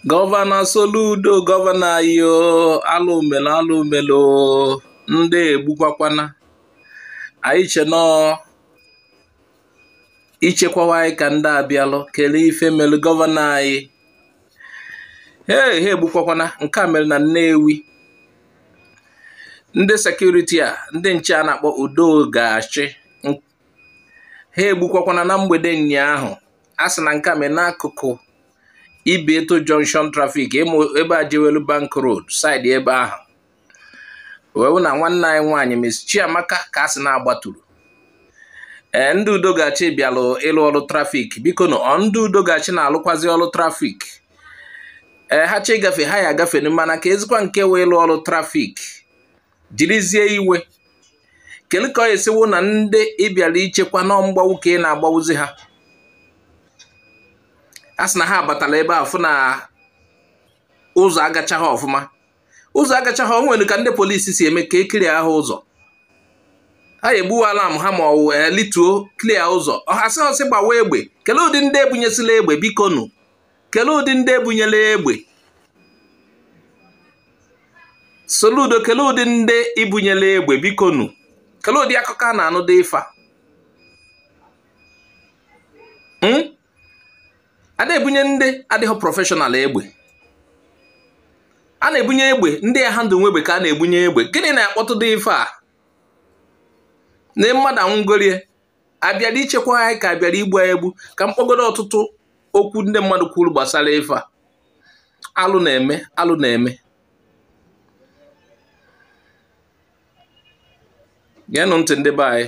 gọvanọ Soludo gọvanọ anyị o alụ melu o alụ melu o ndị egbukwakwana anyị chee na ọ ichekwawa anyị ka ndị a bịalụ kelee ife melu gọvanọ anyị ee ha egbukwakwana nke a mere na Nnewi ndị sekuriti a ndị nche a na-akpọ udo ga-achị ha egbukwakwana na mgbede ụnyaahụ a sị na nke a mee n'akụkụ Ibeto Junction trafik ebe a jewelu Bank Road saịdị ebe ahụ wee wụ na nwanne anyị nwaanyị Miss Chiamaka ka a sị na a gbaturu ee ndị udo ga-achị bịalụ ịlụ ọrụ trafik biko nụ ọ ndị udo ga-achị na-alụkwazi ọrụ trafik ee ha chọ ịgafe ha ya agafe mana keezikwa nke wụ ịlụ ọrụ trafik jirizie iwe kedu ka ọ ya-esi wụ na ndị ị bịara ichekwa na ọ mgbagbu ka ị na-agbagbuzi ha a sị na ha abatala ebe a fụ na ụzọ agachaghị ọfụma ụzọ agachaghị o nwere ka ndị polisi si eme ka e kliara ha ụzọ ha egbuwa alam ha ma ọ wụ e lituo klia ụzọ ọhasị ọsị gbawa egbe kelee ụdị ndị e bunyesila egbe biko nụ kelee ụdị ndị e bunyela egbe Soludo kelee ụdị ndị i bunyela egbe biko nu kelee ụdị akụkọ a na-anụ dị ife a hmm? a na-ebunye ndị adịghị prọfeshọnal egbe a na-ebunye egbe ndị ya-ahandụlnwu egbe ka a na-ebunye egbe gịnị na-akpata ụdị ife a na mmadụ anwụgorie a bịara ichekwa anyị ka a bịara igbu anyị egbu ka m kpọgodo ọtụtụ okwu ndị mmadụ kwuru gbasara ife a alụ na-eme alụ na-eme geenụ ntị ndị be anyị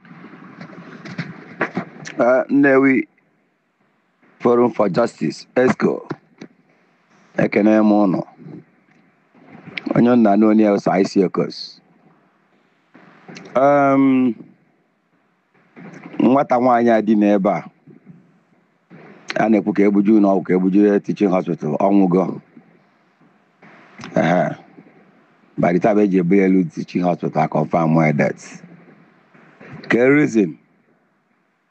Uh, Nnewi Forum for Justice exco ekene m ụnụ onye nna na onye ụsa isi okos um, nwata nwaanyị a dị n'ebe a a na-ekwu ka e buje na ọgwụ ka e buje ya teaching hospital ọ nwụgo ehe by the time e ji ebu ya elu teaching hospital confirm ya dead kee reason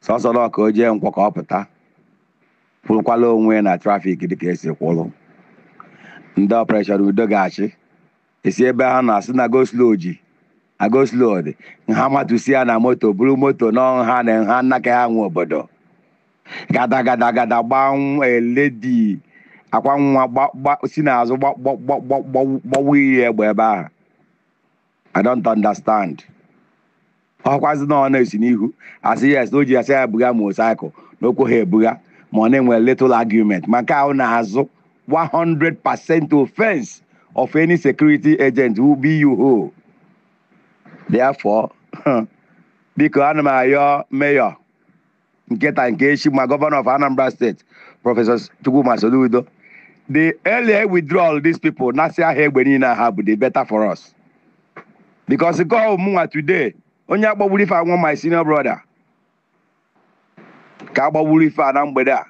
sọsọ na ọ ka o jee Nkwọ ka ọ pụta kwụrụkwala onwe ya na trafik dịka e si kwụrụ ndị ọpreshọn udo ga-achị esi ebe ha nọ sị na go slow ji na go slow dị ha matusi ya na moto buru moto na ha na ha nnaka ha nwe obodo gada gada gada gbaa lady akwa nwa si n'azụ gbawu ya egbe ebe ahụ i don't understand ọkwazi na ọ na-esi n'ihu asị yes na o ji asị ya buga motorcycle na okwu ha ebuga ma ọ na-enwe little argument ma nke ahụ n'azụ 100% offense of any security agent who be you who therefore biko ana m ayọ mayor nke taa nke echi ma governor of Anambra State Professor Chukwuma Soludo the earlier withdraw all these people nasịa ha egbe niile ha bu the better for us because ka ọ wụ mụnwa today onye agbagburu ife a wụ my senior brother ka agbagburu ife a na mgbede a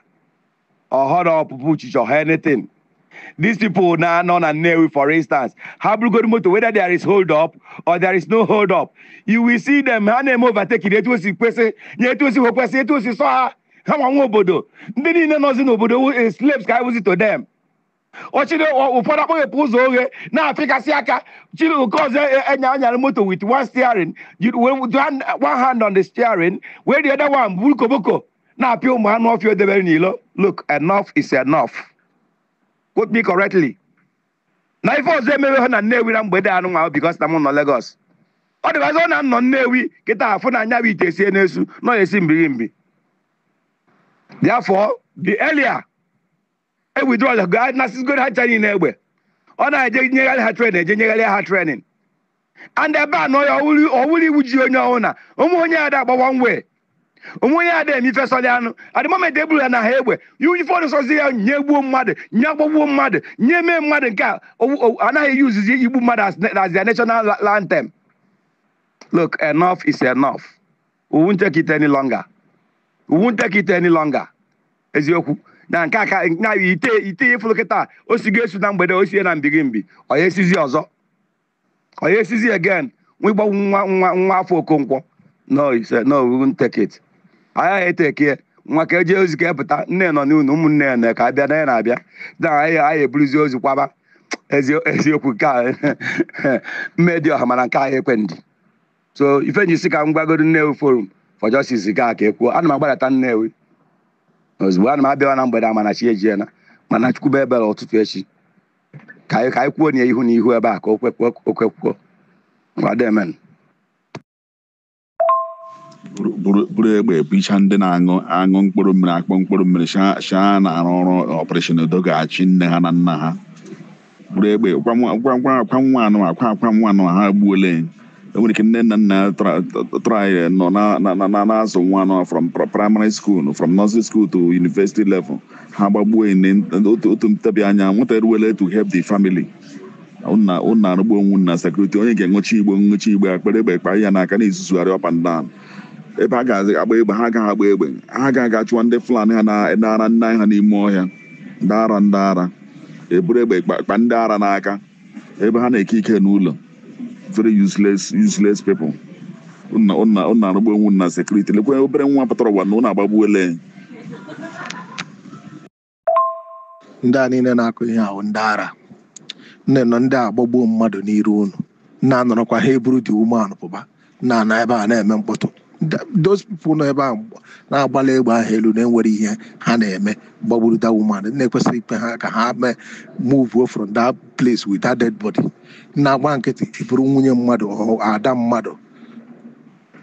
ọhọrọ ọpụpụ uchichi ọha anything these people na-anọ na Nnewi for instance ha burugodu moto whether there is hold up or there is no hold up you will see them ha na-eme overtaking etu o si kwesị nye etu o si kwesị etu o si sọ ha ha nwa nwe obodo ndị niile nọzi n'obodo slaves ka ha bụzi to them ọchịrị ụfọdụ akpọghepụ ụzọ oghe na-apịkasị aka chiri nke ọzọ e, enya anyara moto with one steering one hand on the steering while the other one buru koboko na-apịa ụmụ anụ ọfịa edebere n'ilo look enough is enough quote me correctly na ife ọzọ emewe ha na Nnewi na mgbede anụ nwa because na m nọ Lagos otherwise na m nọ Nnewi kịta afụ na anya bụ ite sie n'esu nọ esi mbiri mbi therefore the earlier e withdrawal gaa nasịzigoro ha training n'egbe ọ na-eje nyegharị ha training eje nyegharị ha training and ebe a nọ ya ọ wụrụ iwu ji onye ọhụrụ na ụmụ onye ada agbawa nwe ụmụ onye ada eme ife sọlị anụ the moment eburu ya na ha egbe ya onye fọdụ sọzi ya nye gbuo mmadụ nye agbagbuo mmadụ nye mee mmadụ nke a owu- owu- anaghị eyi uzizi igbu mmadụ as na- as their national la- anthem look enough is enough we won't take it any longer we won't take it any longer eziokwu na nke aka na ite ite ị fụlụ kịta o si ga-esu na mgbede o sie na mbi gị mbi ọ ya esizi ọzọ ọ ya esizi again nwa ịgbanwu nwa nwa nwafọ okonkwo no he said, no we won't take it anyị eteke ya nwa ka eje ozi ka epụta nne nọ n'ụlọ ụmụnne ya na ka abịa na ya na-abịa na anyị anyị eburuzi ozu kwaba ezi- eziokwu nke a mmedi ọha mana nke anyị ekwe ndi so ife m ji sị ka m gwagodu nnewi forum for justice gaa ka ekwuo ana m agbadata nnewi ozugbo ana m abịawa na mgbede a mana chi ejiela mana chukwu mee ebere ụtụtụ echi ka anyị ka anyị kwuo na ya ihu na ihu ebe a ka o kwekwuo o kwekwuo ngwado emen buru buru- buru egbe ebicha ndị na-aṅụ aṅụ mkpụrụ mmiri akpọ mkpụrụ mmiri sị ha na-arụ ọrụ operation udo ga-achị nne ha na nna ha buru egbe gwa nwa gwa gwa akwa nwa anụ akwa akwa nwa anụ ha egbuola ya o nwere ike nne na nna ya tra- tra- try nọ na- na- na- na- na-azụ nwa anụ from pra- primary school from nursery school to university level ha gbagbuo ya na- otu otu ntabi anya nwata eruole to help the family ụnụ ụnụ arụgbuo onwe ụnụ na sekuriti onye ga-enwechi igbo nwechi igbe akpere egbe kpa ya n'aka na-ezuzugharị up and down ebe ha ga-agba egbe ha agaghị agba egbe ha ga-aga chụwa ndị fulani ha na- na-ara nne anyị ha n'ime ọhịa ndị ara ndị ara eburu egbe kpa ndị ara n'aka ebe ha na-eke ike n'ụlọ very useless useless people ụnụ arụgbuo onwe ụnụ na sekuriti lekwa obere nwa pụtara ụwa na ụnụ agbagbuole ndị a niile na-akụ ihe ahụ ndị ara ụnụ nọ ndụ agbagbuo mmadụ n'iru ụnụ ụnụ anọrọkwa ha eburu the woman ahụ pụba ụnụ nọ ebe a na-eme mkpọtụ Th- those people nọ ebe a mgb- na-agbala egbe ahụ elu na e nwere ihe ha na-eme gbagburu that woman ụnụ ekwesịghị ikwe ha ka ha mee move from that place with that dead body ụnụ agba nkịtị buru nwunye mmadụ ọ ada mmadụ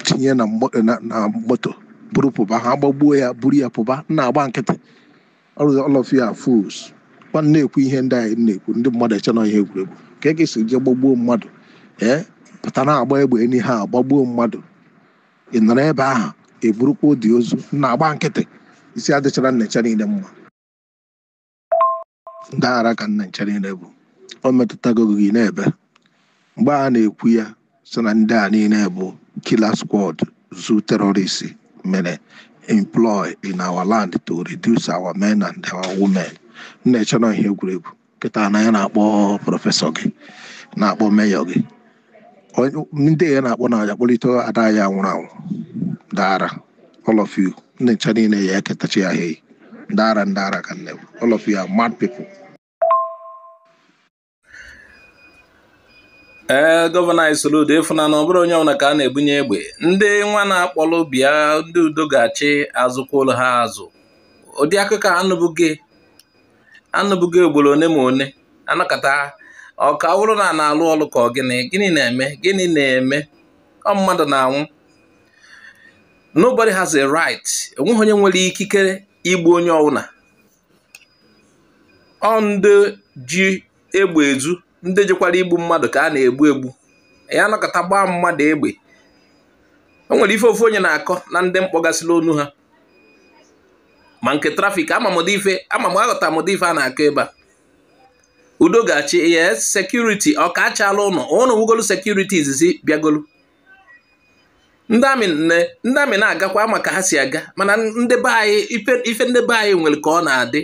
tinye na mgbo- na- na moto buru pụba ha gbagbuo ya buru ya pụba ụnụ agba nkịtị all all of you are fools when a na-ekwu ihe ndị anyị na-ekwu ndị mmadụ eche na ihe egwuregwu ka a ga-esi jee gbagbuo mmadụ ee pụta na-agba egbe enyi ha gbagbuo mmadụ ị nọrọ ebe ahụ eburukwa the ozu ụnụ agba nkịtị isi adịchara ụnụ ncha niile mma ndị ara ka ụnụ ncha niile bụ o metụtago gị na-ebe mgbe a na-ekwu ya sị na ndị a niile bụ killer squad zoo terrorists mere employ in our land to reduce our men and our women ụnụ eche na ihe egwuregwu kịta nna ya na-akpọ prọfesọ gị na-akpọ meyọ gị Onye- ndị ya na-akpọ ya kpọlite ada ya nwụrụ anwụ ndị ara all of you ụnụ ncha niile ya eketachi ya hei ndị ara ndị ara ka ụnụ all of you are mad people ee gọvanọ anyị Soludo ịfụna na ọ bụrọ onye ọbụla ka a na-ebunye egbe ndị nwa na-akpọlụ bịa ndị udo ga-achị a zụkwalụ ha azụ ụdị akụkọ anụbugo anụbugo ugboro one ma one a nọkata ọ ka wụrụ na na-alụ ọlụ ka ọ gịnị gịnị na-eme gịnị na-eme ọ mmadụ na-anwụ nobody has a right enweghị onye nwere ikikere igbu onye ọbụla ọ ndị ji egbe ezu ndị jikwa ya egbu mmadụ ka a na-egbu egbu ya anọkata gbaa mmadụ egbe o nwere ife ofu onye na-akọ na ndị mkpọgasịla onu ha ma nke trafik ama m ife ama m aghọta m ife a na-akọ ebe a udo ga-achị yes sekuriti ọ ka achala ụnụ ụnụ wugolu sekuriti izizi bịagolu ndị army na-agakwa a ma ka ha si aga mana ndị be anyị ife ndị be anyị nwere ka ọ na-adị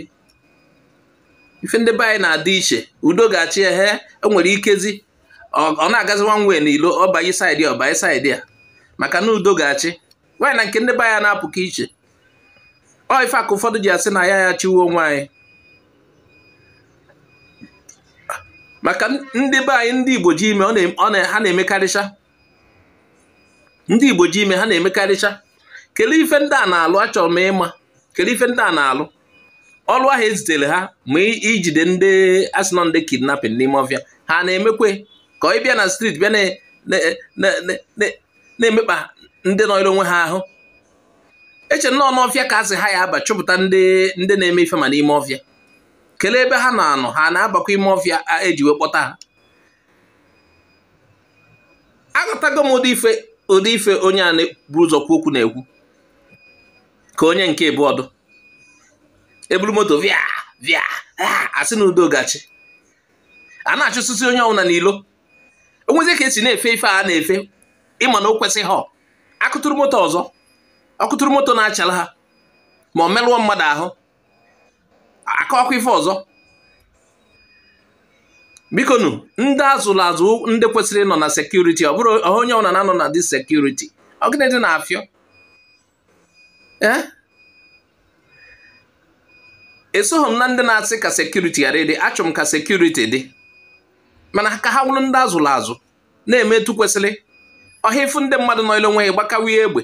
ife ndị be anyị na-adị iche udo ga-achị ehe o nwere ikezi ọ na-agazi one way n'ilo ọ banye side a ọ banye side a maka na udo ga-achị nwaanyị na nke ndị be anyị na-apụka iche ọ ife ka ụfọdụ ji asị na anyị ya-achịwe onwe anyị maka ndị be anyị ndị Igbo ji ime ha na-emekarịcha ndị Igbo ji ime ha na-emekarịcha kelee ife ndị a na-alụ achọrọ m ịma kelee ife ndị a na-alụ ọlụ ahụ ezitere ha ma ijide ndị asị na ọ ndị kidnapping n'ime ọfịa ha na-emekwe ka ọ ịbịa na street bịa na-emekpa ndị nọrọ onwe ha ahụ eche m na ọ n'ọfịa ka asị ha ya-aba chụpụta ndị na-eme ife ma n'ime ọfịa kelee ebe ha na-anọ ha na-abakwa ime ọfịa eji wee kpọta ha aghọtago m ụdị ife ụdị ife onye a na-eburu ụzọ kwu okwu na-ekwu ka onye nke bu ọdụ eburu moto via via asị na udo ga-achị a na-achụsịsị onye ọbụla n'ilo o nwezi ka esi na-efe ife a na-efe ịma na o kwesịghị ha akụtụrụ moto ọzọ akụtụrụ moto na-achala ha ma ọ merụọ mmadụ ahụ aka ọkụ ife ọzọ bikonu ndị azụrụ azụ ndị kwesịrị ịnọ na sekuriti ọ bụrụ onye ọbụla na-anọ na the sekuriti ọ gịnị dị na-afịọ eh? esoghị m na ndị na-asị ka sekuriti ghara ịdị achọ m ka sekuriti dị mana ka ha wụrụ ndị azụrụ azụ na-eme etu kwesịrị ọhọ ịfụ ndị mmadụ nọlụ onwe ha gbakawa ya egbe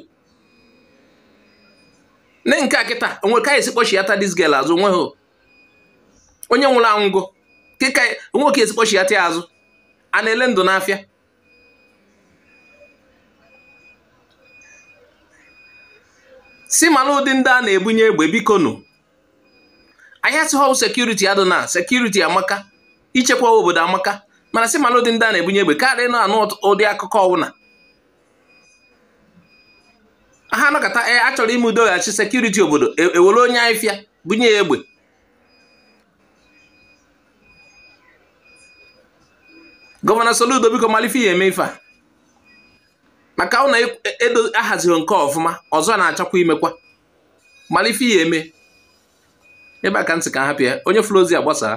nee nke a kịta o nwe ka esi kpọchiata dis girl azụ o nweghị onye nwụrụ anwụgo kịta o nwe ka esi kpọchiata ya azụ a na-ele ndụ n'afịa si mara ụdị ndị a na-ebunye egbe biko nụ anyị asịhọ sekuriti adịna sekuriti amaka ichekwa obodo amaka mana si mara ụdị ndị a na-ebunye egbe karịa ịna-anụ ụdị akụkọ ọwụna ha anọkata e, a chọrọ ime udo ga-achị sekuriti obodo ewere e onye anụ ọfịa bunye ya egbe gọvanọ Soludo biko malụ ife ị ya-eme ife a maka ọ na-edo e, e ahazighị nke ọfụma ọzọ a na-achọkwa imekwa malụ ife ị ya-eme ebe a ka m sị ka a hapụ ya onye fụrụ ozi a gbasaa